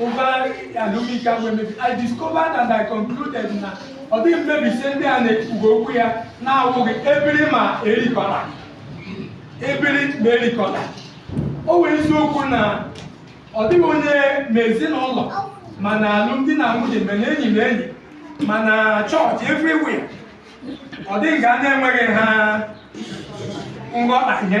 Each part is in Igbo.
over alumika mmebi i discovered and i concluded na ọ dịghị mmebisi ndị a na-ekwuga okwu ya na-awụghị ebiri ma erikọla ebiri ma erikọla ọ wụ eziokwu na ọ dịghị onye ma ezinụlọ ma na alụmdi na nwunye ma na enyi na enyi ma na chọọchị everywhere ọ dịghị nga na-enweghị ha nghọtahie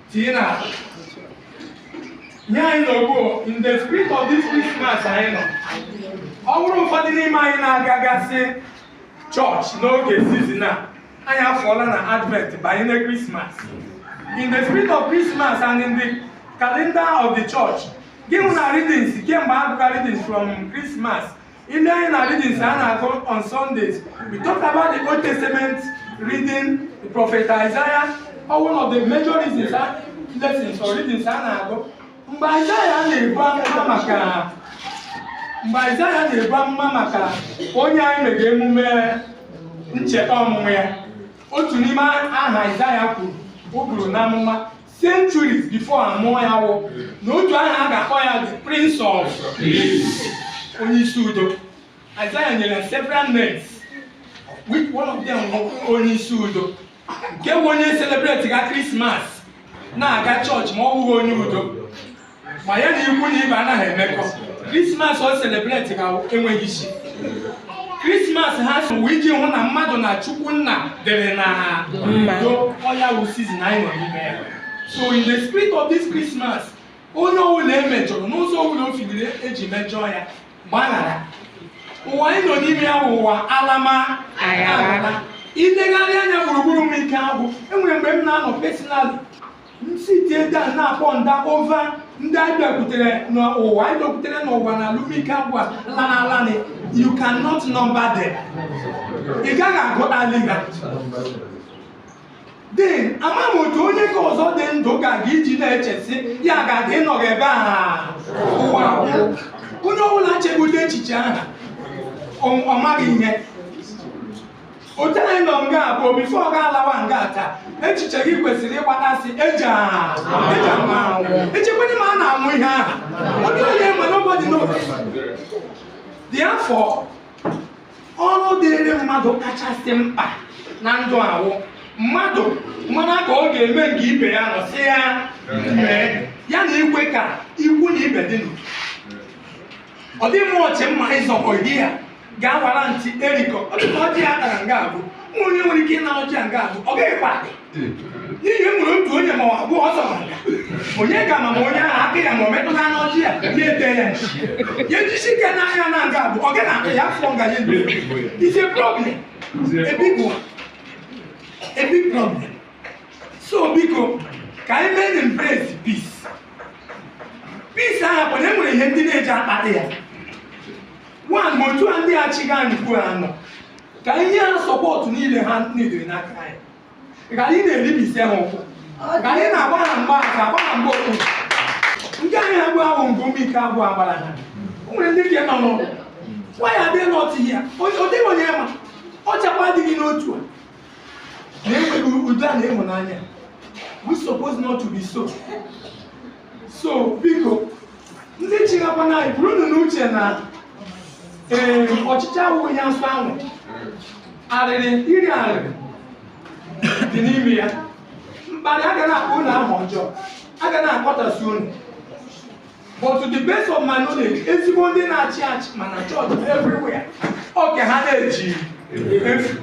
tinye na akpa nye anyị nọ ugbu a in the spirit of this Christmas anyị nọ ọ bụrụ ụfọdụ n'ime anyị na-agagasị chọọchị n'oge season a anyị afụọla na advent banye na Christmas in the spirit of Christmas and in the calendar of the church ị ga-ahụ na readings kemgbe a gụga readings from Christmas niile na readings a na-agụ on Sundays. We talked about the Old Testament reading, the prophet Isaiah, wụ one of the major reasons uh, lessons or readings a na-agụ. Mgbe Isaiah na-ebu amụma maka onye anyị mega emume ncheta ọmụmụ ya otu n'ime aha Isaiah kwuru o buru n'amụma centuries before amụọ ya wụ na otu aha a ga-akpọ ya the prince of onye isi udo Isaiah nyere ya several names which one of them bụ onye isi udo nke wụ onye celebratega Christmas na-aga chọọchị ma ọ wụghị onye udo ma ya na ikwu na ibe anaghị emekọ krismas ọ selebretiga enweghị isi krismas also wụ iji hụ na mmadụ na chukwu nna dịrị n'udo ọ ya wụ season anyị nọ n'ime ya so in the spirit of this christmas onye ọbụla e mejọrọ n'ụzọ ọbụla o figiri e ji mejọọ ya gbaghara ụwa anyị nọ n'ime ya bụ ụwa alam ala i legharịa anya gburugburu m ike agwụ e nwere mgbe m na-anọ personal m sitie down na-aponder over ndị anyị bịakwutere n'ụwa anyị lọkwutere n'ụwa na alụmike agwa lana alani you cannot number them ị gaghị agụtali ha then ama m otu onye ka ọzọ dị ndụ ga-aga iji na-eche sị ya ga-aga ịnọghị ebe a ụwa agwụ. onye ọbụla chebe ụdị echiche aha ọ ọ maghị ihe otu anyị nọ nga ugbu a before ọ ga-alawa nga taa echiche gị kwesịrị ịgbatasị eji a- eji ama anwụ echekwanye ma a na-anwụ ihe aha ọ dịghị onye ma nobody knows therefore ọrụ dịrị mmadụ kachasị mkpa na ndụ a wụ mmadụ manụ ka ọ ga-eme nga ibe ya nọ sị ya mee ya na ikwu ka ikwu na ibe dị n'udo ọ dị mụ ọchị mma ịzọkọ ihe ya ga-awara ntị erikọ ọ dịka ọjị ya tara nga abụọ ụmụ onye nwere ike ịna ọjị ya nga abụọ agaghịkwa adị n'ihi e nwere otu onye ma ọ abụọ ọzọ ma nga onye ga ma ma onye ahụ aka ya ma ọ metụta n'ọjị ya ya ete ya nchi ya ejisi ike n'ahịa na nga abụọ agaghị akpa ya afọ nga ya ebe ise problem a big one a big problem so biko ka anyị mee na embrace peace peace ahụ bụ na e nwere ihe ndị na-eji akpata ya nwa ma otu a ndị achịga anyị kwuo ha nọ ka anyị nye ha support niile ha needere n'aka anyị ghara ị na-eribisi ha ụkwụ ghara ị na-agba ha mgba aka agba ha mgba okpuru ndị anyị agwa ahụ mgbe ụmụ ike agwa agbara ha o nwere ndị ka nọ n'ụlọ nwa ya adịghị n'ọtụ ihe ọ dịghị onye ma ọ chakwa adịghị n'otu a udo na ịhụnanya we suppose not to be so so biko ndị chịgakwana anyị burunu n'uche na ee ọchịchị awụghị ya nsọ ahụ arịrị iri arịrị dị n'ime ya mkparị a ga na-akpọ unu aha ọjọọ a ga na-akpọtasị unu but to the best of my knowledge ezigbo ndị na-achị achị ma na chọọchị everywhere oge ha na-eji efu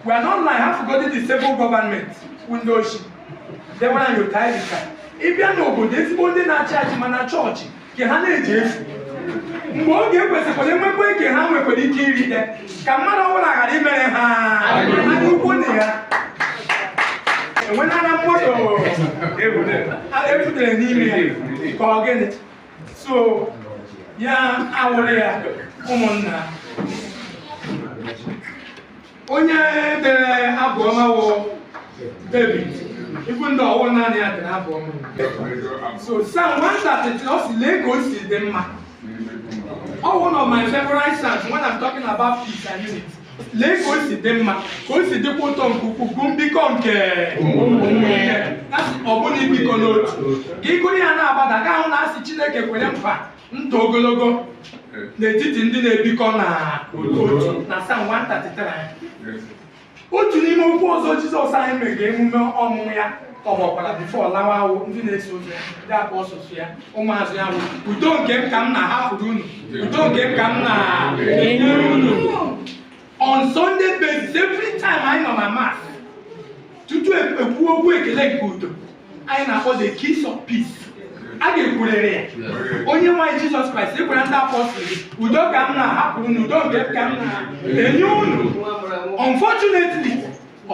we are not like half godi the civil government ndị ochi debara anyị otu anyị dịka ịbịa n'obodo ezigbo ndị na-achị achị ma na chọọchị ka ha na-eji efu mgbe oge e kwesịkwara enwekwa ike ha nwekwara ike irite ka mmadụ ọbụla ghara imere ha ukwu na ya enwenana moto efutere n'ime ya ka ọ gịnị so ya awụrụ ya ụmụnna onye dere abụ ọma wụ David even though ọ wụghị naanị ya dere abụ ọma so Psalm 133 ọ sị lee ka o si dị mma Ọ wụ one of my favorite psalms when I'm talking about peace and unity. lee ka o si dị mma ka o si dịkwa ụtọ nke ukwuu bụ mbikọ nke ụmụnne ibikọ n'otu ka ị gụrụ ya na-agbada ị ga-ahụ na a sị Chineke kwere nkwa ndụ ogologo n'etiti ndị na-ebikọ na otu na Psalm 133 otu n'ime okwu ọzọ Jizọs anyị mega emume ọmụmụ ya ọ gwakwara before ọ lawa wụ ndị na-eso ụzọ ya ndị apostles ya ụmụazụ ya bụ udo nke m ka m na-ahapụrụ unu udo nke m ka m na-enye unu on sunday basis every time anyị nọ na Mass tutu e kwuo okwu ekele nke udo anyị na-akpọ the kiss of peace a ga-ekwurịrị ya onyenwe anyị jizọs kraịst ị gwara ndị apọstụl gị udo ka m na-ahapụrụ unu udo nke ka m na-enye unu unfortunately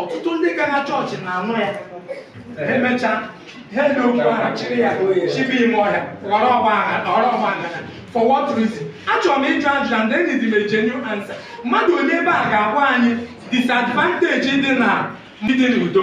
ọtụtụ ndị gara chọọchị na-anụ ya emechaa ha eme okwu ahụ chịrị ya chịba ime ọhịa ghọrọ ọgba aghara for what reason achọrọ m ịjụ ajụjụ and then give me genuine answer mmadụ onye ebe a ga-agwa anyị disadvantage dị na ịdị n'udo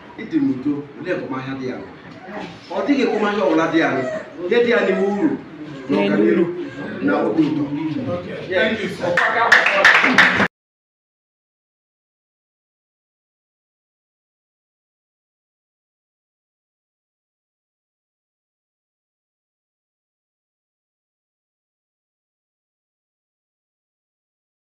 ịdị n'udo olee ekpomahịa dị ya ọ dịghị ekpomahịa ọbụla dị ya ihe dị ya n'ime wụ uru na ọganihu na obi udo